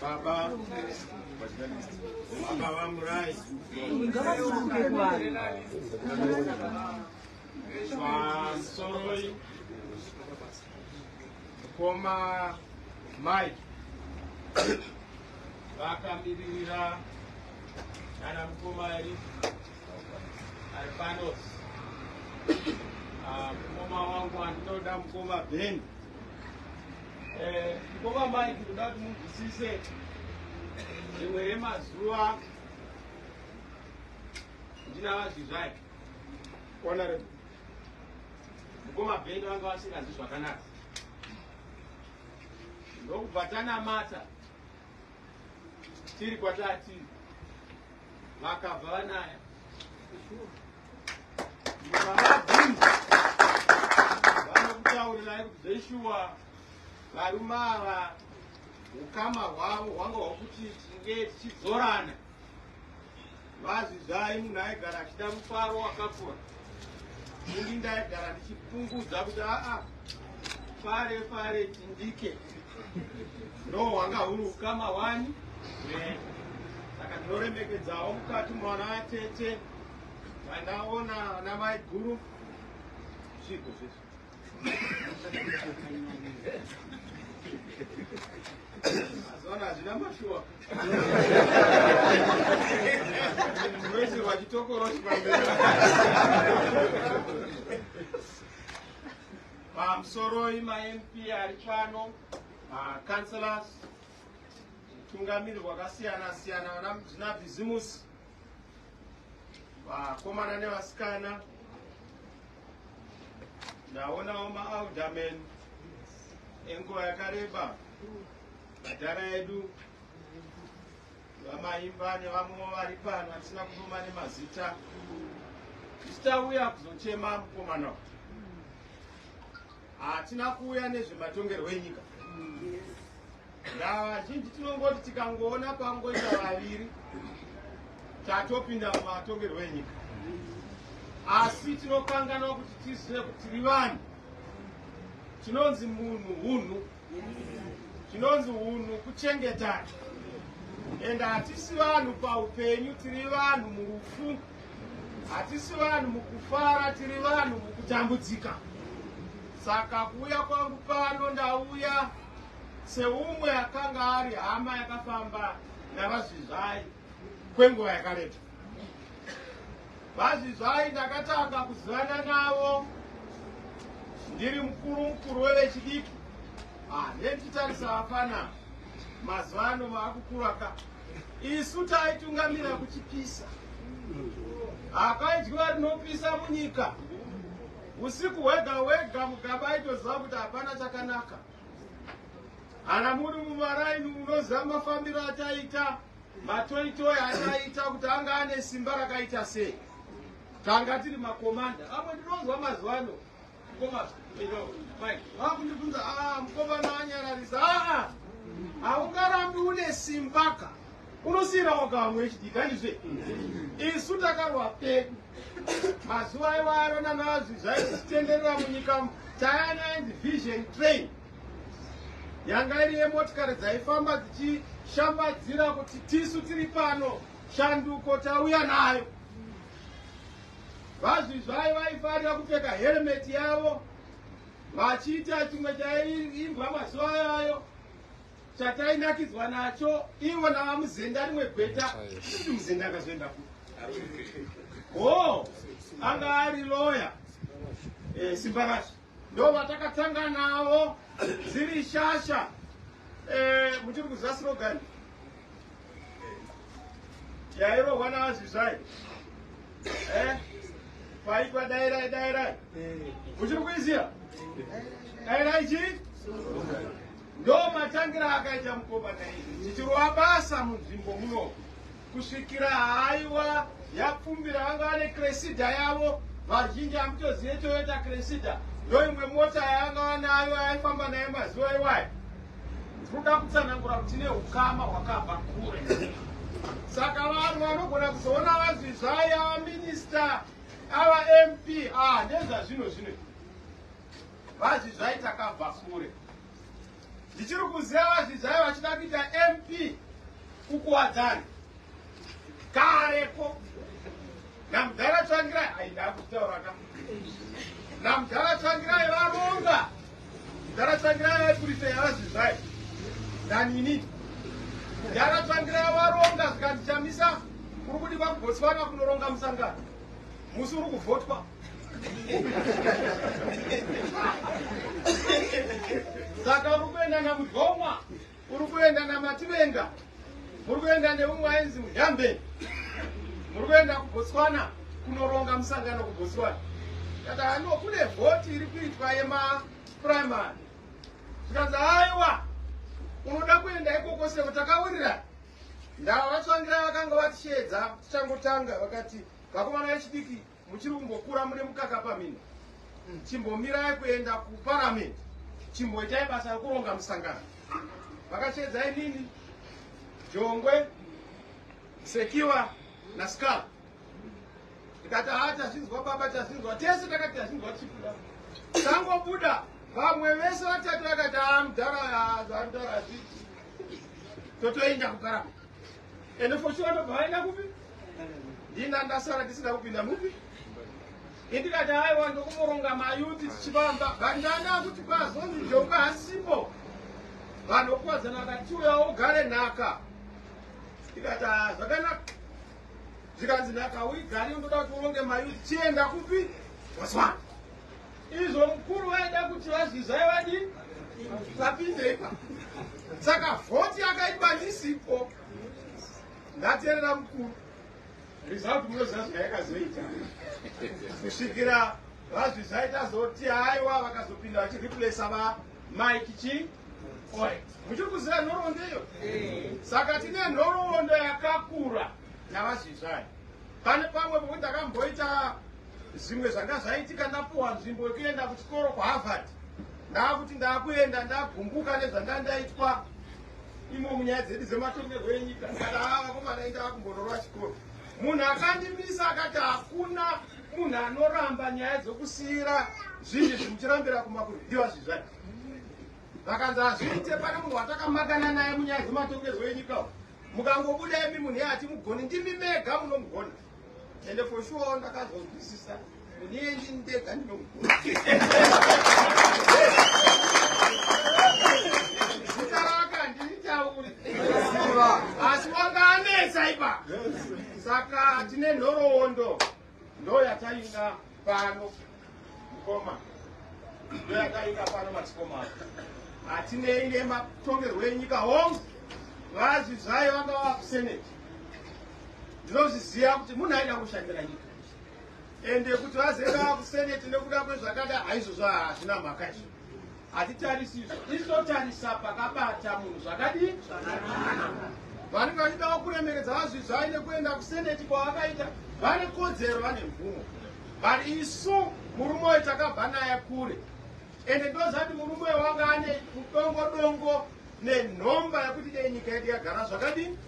Baba, Baba vamurai. Vasoroi. Koma Mike. Vakamiririra nana mukoma ari ari pano ah, mukoma wangu andinoda mukoma ben eh, mukoma mai tinoda kuti munzwisise rimwe remazuva ndina vazvizvai honorable mukoma ben vanga vasinganzi zvakanaka ndokubva tanamata tiri kwatati vakabva vanaya vanokutaurirai kuti zveshuwa varume ava ukama hwavo hwanga hwakuti tinge tichidzorana Vazvizai munhu aigara achida mufaro wakakora. Ini ndaigara ndichipungudza kuti aa fare fare tindike ndo hwanga huri ukama wani saka ndinoremekedzawo mukati mwana atete vandaona ana maiguru zvigo zvese Zona hazvina mashuwa. Mwezi wachitokoroshi pamberi. Pamusoroi maMP ari pano, makanselas, tungamiri wakasiyana siyana, vana zvina bhizimusi, vakomana nevasikana ndaonawo maalderman enguva yakareba madhara edu vamaimba nevamwewo vari pano atisina kutuma nemazita tichitauya kuzochema mukomana Hatina kuuya nezvematongerwo enyika. Vazhinji tinongoti tikangoona pangoita vaviri tatopinda mumatongerwo enyika, asi tinokanganwa kuti tizive kuti tiri vanhu, tinonzi munhu hunhu zvinonzi unhu kuchengetana and hatisi vanhu paupenyu tiri vanhu murufu hatisi vanhu mukufara tiri vanhu mukutambudzika saka kuuya kwangu pano ndauya seumwe akanga ari hama yakafamba navazvizvai kwenguva yakareba vazvizvai ndakatanga kuzivana navo ndiri mukuru mukuru wevechidiki ah, nenditarisa vafana mazuva ano vaakukura ka isu taitungamira kuchipisa hakaidyiwa rinopisa munyika usiku hwega hwega mugaba aitoziva kuti hapana chakanaka Kana muri mumaraini munoziva mafambiro ataita matoitoi ataita kuti anga ane simba rakaita sei tanga tiri makomanda amwe ndinonzwa mazuva ano vakundibvunza ah, mukomana anyararisa aa haungarambi une simbaka unosiyira waka vamwe echidika ndizve isu takarwa pedu mazuva aivaarona nazvi zvaititenderera munyika tayana and vision train yanga iri yemotikari dzaifamba dzichishambadzira kuti tisu tiri pano shanduko tauya nayo vazvizvai vaifarira kupfeka heremeti yavo vachiita chimwe chaiimbwa mazuva ayayo chatainakidzwa nacho ivo navamuzenda rimwe gweta ii muzenda akazoenda ku ho anga ari loya eh, simbakashi ndovatakatanga navo dziri shasha eh, muchiri kuziva slogan yairohwa navazvizvai eh, kwaitwa dairai dairai muchiri kuiziva dairai chii ndomatangira akaita mukoma naii tichirova basa munzvimbo munoku kusvikira haiwa yapfumbira vanga vane cresida yavo vazhinji hamutozive toyota cresida ndoimwe mota yavanga vanayo yaifamba naye mazuva iwayo tinoda kutsanangura kuti ne ukama hwakabva kure saka vanhu vanogona kuzoona vanzi zvaya vaminista ava mp ah, ndezvazvino zvino vazvi zvai takabva kure Ndichiri kuziva vazvizvayo vachida kuita MP kukuwadzana kareko namudhara tsvangirai aida kutaura ka namudhara tsvangirai varonga mudhara tsvangirai vaipurisa yavazvizvayo nanini mudhara tsvangirai varonga zvikandichamisa kuri kudikwa kubotswana kunoronga musangano musi uri kuvhotwa saka uri kuenda namudhomwa uri kuenda namativenga muri kuenda neumwe ainzi muyambe muri kuenda kubotswana kunoronga musangano kubotswana kata hano kune vhoti iri kuitwa yemaprimary zvikanzi aiwa unoda kuenda ikoko seko takawirira ndava vatsvangira vakanga vatishedza tichangotanga vakati Vakomana vechidiki muchiri kungokura mune mukaka pamino. Chimbomirai kuenda kuparamende. Chimboitai basa rekuronga musangano. Vakashedza inini Jongwe Sekiwa na Skal. Ndikati haa tazvinzwa baba tazvinzwa tese takati tazvinzwa tichibuda. Tangobuda vamwe vese vatatu vakati haa mudhara haa mudhara zvii. Totoenda kuparamende. Ende for sure ndobva vaenda kupi? Ndina ndasara ndisina kupinda mupi? Indikati aiwa ndokumoronga mayuti tichivamba but ndanda kuti kwazonzi jonga hasipo vanhu kuwadzana vakati uya ugare nhaka ndikati ah, zvakanaka zvikanzi nhaka uigari ndoda kuti uronge mayuti chienda kupi? Wazwana? Izvo mukuru vaida kuti vazvizai vadii vapinde ipa saka vhoti yakaitwa ndisipo ndaterera mukuru result munoziva zvayakazoita kusvikira vazvizai tazoti aiwa vakazopinda vachireplasa va mike chii muchiri kuziva nhoroondo iyo saka tine nhoroondo yakakura navazvizvai Pane pamwe pomwe ndakamboita zvimwe zvanga zvaitika ndapuwa nzvimbo yekuenda kuchikoro kuharvard ndaakuti ndaakuenda ndagumbuka nezvanga ndaitwa imo munyaya dzedu dzematongerwo enyika kana avakomana enda vakumbororwa chikoro munhu akandimisa akati hakuna munhu anoramba nyaya dzokusiyira zvinhu izvi muchirambira kumakurwiwa zvizvai vakanzi hazviite pane munhu watakamakananaye munyaya dzematongerwo enyika Mukangobuda imi munhu yati mugoni ndimi mega munomugona. Ende for sure ndakazonzwisisa munhu iye ndini ndega ndinomugona. Asi wanga anetsa ipa. Saka tine nhoroondo. ndoyataina pano mukoma ndoyataina pano madzikoma hatinei nematongerwo enyika hongu vazvi zvayo vanga vava kuseneti ndinozviziva kuti munhu aida kushandira nyika ende kuti vazevaa kuseneti nekuda kwezvakada haizvozvo hazvina mhaka izvo Hatitarisizve isu totarisa pakabata munhu zvakadii zvakanaka. Vanenge vachidawo kuremeredza vazvizvai nekuenda kuseneti kwavakaita vane kodzero vane mvumo but isu murume uyu takabva naye kure ende ndozati murume uyu wanga ane dongo dongo nenhomba yekuti dei nyika yedu yagara zvakadii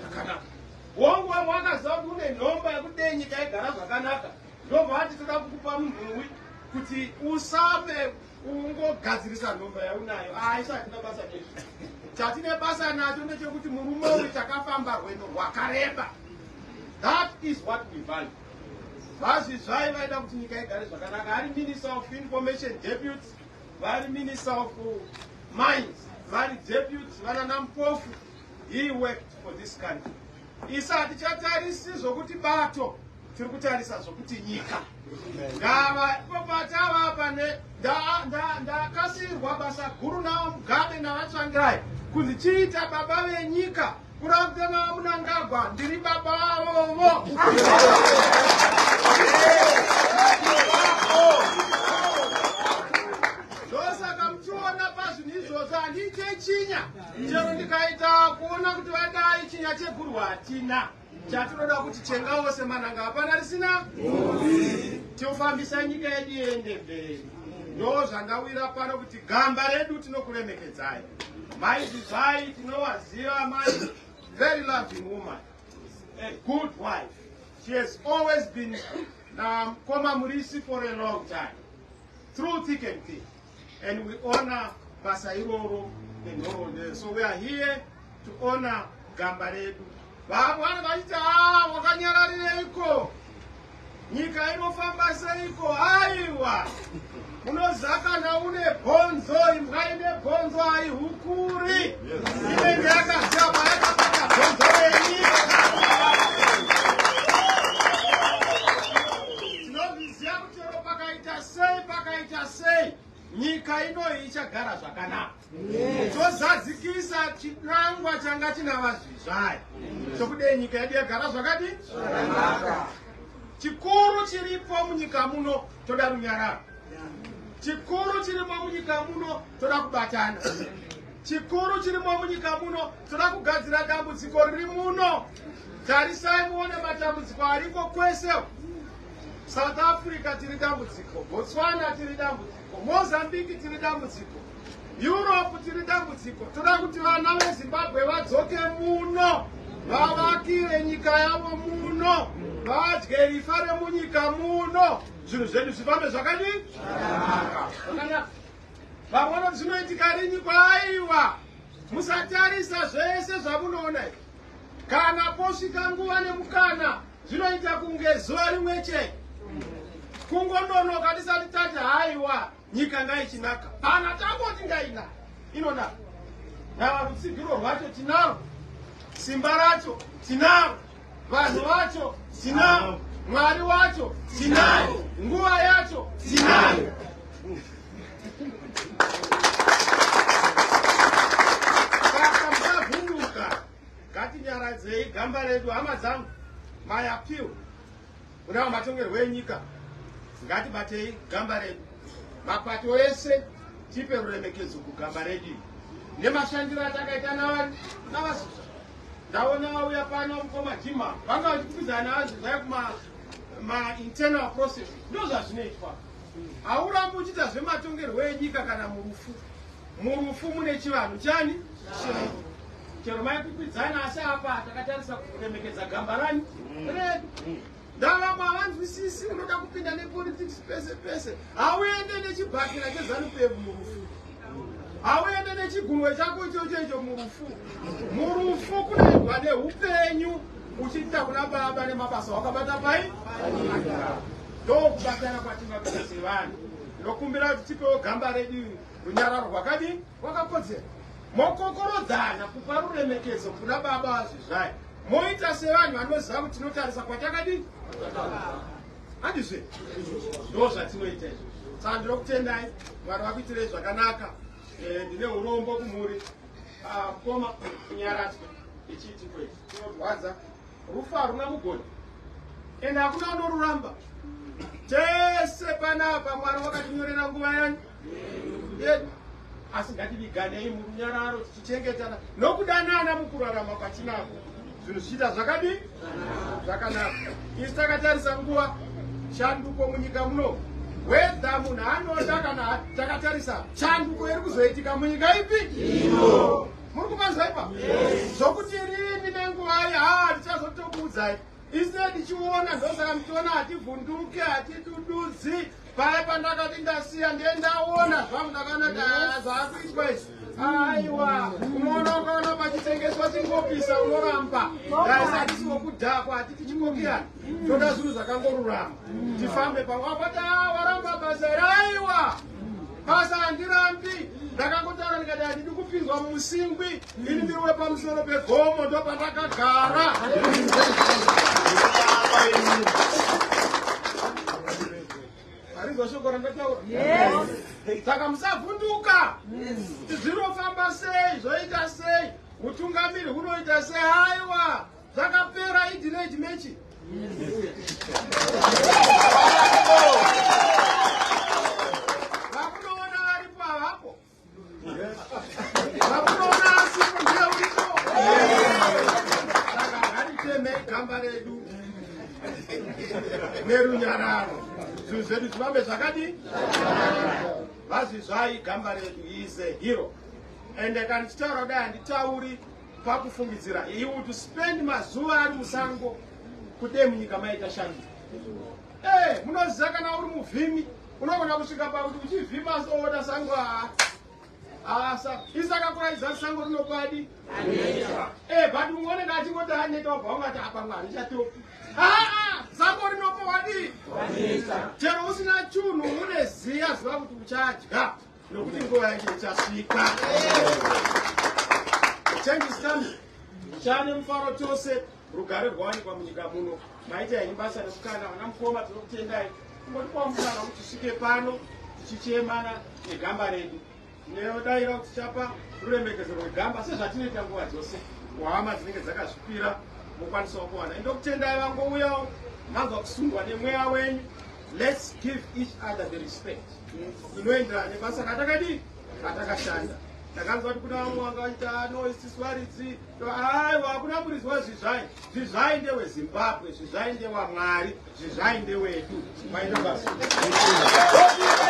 zvakanaka wongo wakaziva kuti une nhomba yekuti dei nyika yagara zvakanaka Ndobva ati toda kukupa munhuwi kuti usame ungogadzirisa nhomba yaunayo aisa ah, hatina basa nezvi chatine basa nacho ndechekuti murume uyu takafamba rwendo rwakareba that is what we value vazvi zvai vaida kuti nyika igare zvakanaka vari minister of information deputy vari minister of mines vari deputy vanana mpofu he worked for this country isa hatichatarisi zvokuti bato tiri kutarisa zvokuti nyika ndava ipopatava pane ndakasirwa basa guru navo mugabe navatsvangirai kunzi chiita baba venyika kurakuta navo munangagwa ndiri baba vavovo ndosaka muchiona pazvinhu izvozvo handiite chinya chero ndikaita kuona kuti vadai chinya cheguru hatina Chatinoda kuti chenga wose mananga hapana risina tiofambisa nyika yedu yende mberi. Ndo zvandawira pano kuti gamba redu tinokuremekedzai. Mai Zizai tinowaziva mai very loving woman. A good wife. She has always been um, Koma Murisi for a long time. Through thick and thin. and we honor basa iroro nenhoroondo so we are here to honor gamba redu vamwana vachiti a wakanyararireiko nyika inofamba seiko aiwa unozakana une bhonzo imbwa ine bhonzo aihukuri inenge yakazama yakabata bhonzo renyika Chero pakaita sei pakaita sei nyika inoyi ichagara zvakanaka zvozadzikisa chinangwa changa china vazvizvayi chokudei nyika yedu yagara zvakadi chikuru chiripo munyika muno toda runyararo chikuru chirimo munyika muno toda kubatana chikuru chirimo munyika muno toda kugadzira dambudziko riri muno tarisai muone matambudziko ariko kwese South Africa tiri dambudziko, Botswana tiri dambudziko, Mozambique tiri dambudziko, Europe tiri dambudziko. Toda kuti vana veZimbabwe vadzoke muno, vavakire nyika yavo muno, vadye rifa remunyika muno, zvinhu zvedu zvifambe zvakadii? Zvakanaka. Vamwe vanoti zvinoitika rini kwaiwa Musatarisa zvese zvamunoona izvi. Kana posvika nguva nemukana zvinoita kunge zuva rimwe chete. Kungononoka tisati tati haiwa nyika ngaichinaka. Kana tangoti ngaina inonaka. Nava rutsigiro rwacho tinaro. Simba racho tinaro. Vanhu vacho tinavo. Mwari wacho tinaye. Nguva yacho tinayo. Saka musavhunduka. Ngatinyaradzei gamba redu hama dzangu. My appeal. Kunawo matongerwo enyika, ngatibatei gamba redu. Mapato ese tipe ruremekedzo kugamba redu nemashandiro atakaita navari navasusa. Ndaona vauya pano mukoma Jima vanga vachikupidzana navanzi zvaya kuma mainternal process ndozvazvinoitwa haurambi uchiita zvematongerwo enyika kana murufu Murufu mune chivanhu chani? Changu. Chero maikwikwidzana asi apa takatarisa kuremekedza gamba rani redu. Mm. Ndavamwe havanzwisisi unoda kupinda nepolitics pese pese. Hauende nechibhakira chezanu pevu murufu. Hauende nechigunwe chako ichocho icho murufu. Murufu kunoendwa neupenyu uchiita kuna baba nemabasa wakabata pai? Ndokubatana kwatingakuita sevanhu. Ndokumbira kuti tipewo gamba redu Runyararo rwakadii? Rwakakodzera. Mokokorodzana kupa ruremekedzo kuna baba vazvizvayo. Moita sevanhu vanoziva kuti tinotarisa kwatakadii? Handizve? Ndo zvatinoita izvo. Saka ndinokutendai, Mwari vakuitirei zvakanaka. Eh, ndine urombo kumhuri. Ah, mkoma, kunyaradzwa. Ichiiti kwezi. Chinorwadza. Rufu haruna mugoni. Ende hakuna unoruramba. Tese panapa Mwari wakatinyorera nguva yanyu. yedu asi ngativiganei murunyararo tichichengetana nokudanana mukurarama kwatinako zvinhu zvichiita zvakadii zvakanaka isi takatarisa nguva shanduko munyika muno wedha munhu anoda kana takatarisa chanduko iri kuzoitika munyika ipi muri kumanzwa ipa zvokuti rini nenguva ya tichazotokuudzai Ise tichiona ndosaka mtiona hativhunduke hatidududzi paya pandakati ndasiya ndiye ndaona zvangu ndakanaka zvakuitwa izvi aiwa unoona ukaona pachitengeswa chingopisa unoramba daisa hatisi wokudhakwa hatiti chingokiyana toda zvinhu zvakangorurama tifambe pamwe apati a waramba basa here aiwa basa handirambi ndakangotaura ndikati handidi kupinzwa musingwi Ini ndiwe pamusoro pegomo ndopandakagara. Arinzwa shoko randataura? Yes. Saka musavhunduka. Yes. Zvinofamba sei? Zvoita sei? Utungamiri hunoita sei? Haiwa. Zvakapera idile chimechi. Yes. gamba redu nerunyararo zvinhu zvedu zvivambe zvakadi vazvizvai gamba redu is a hero and kana ndichitaura kudai handitauri pakufungidzira he would spend mazuva ari musango kudai munyika maita shanu e eh, munoziva kana uri muvhimi Unogona kusvika pakuti uchivhima soona sango haa asa isi akakuraidza sango rinopadi e but umwe unenge achingoti aneta wabva ungati apa mwari chatopi aa sango rinopo wadii chero usina chunhu une ziya ziva kuti uchadya nokuti nguva yacho ichasvika change is coming chane mufaro chose Rugare rwawanikwa munyika muno. Maita henyu basa rekukana vana mukoma tinokutendai. Kungoti kwamukana kuti tisvike pano tichichemana negamba redu. Neodaira kuti chapa ruremekedzo rwegamba sezvatinoita nguva dzose. Kuhama dzinenge dzakazvipira mokwanisawo kuwana. Ndokutendai vangouyawo manzwa kusundwa nemweya wenyu. Let's give each other the respect. Inoenderana nebasa katakadii katakashanda. Ndakanzwa kuti kuna vamwe vanga vaita no isiswaridzi Aiwa hakuna murizwa zvizvai zvizvai ndewe Zimbabwe zvizvai ndewa Mwari zvizvai ndewedu maina basa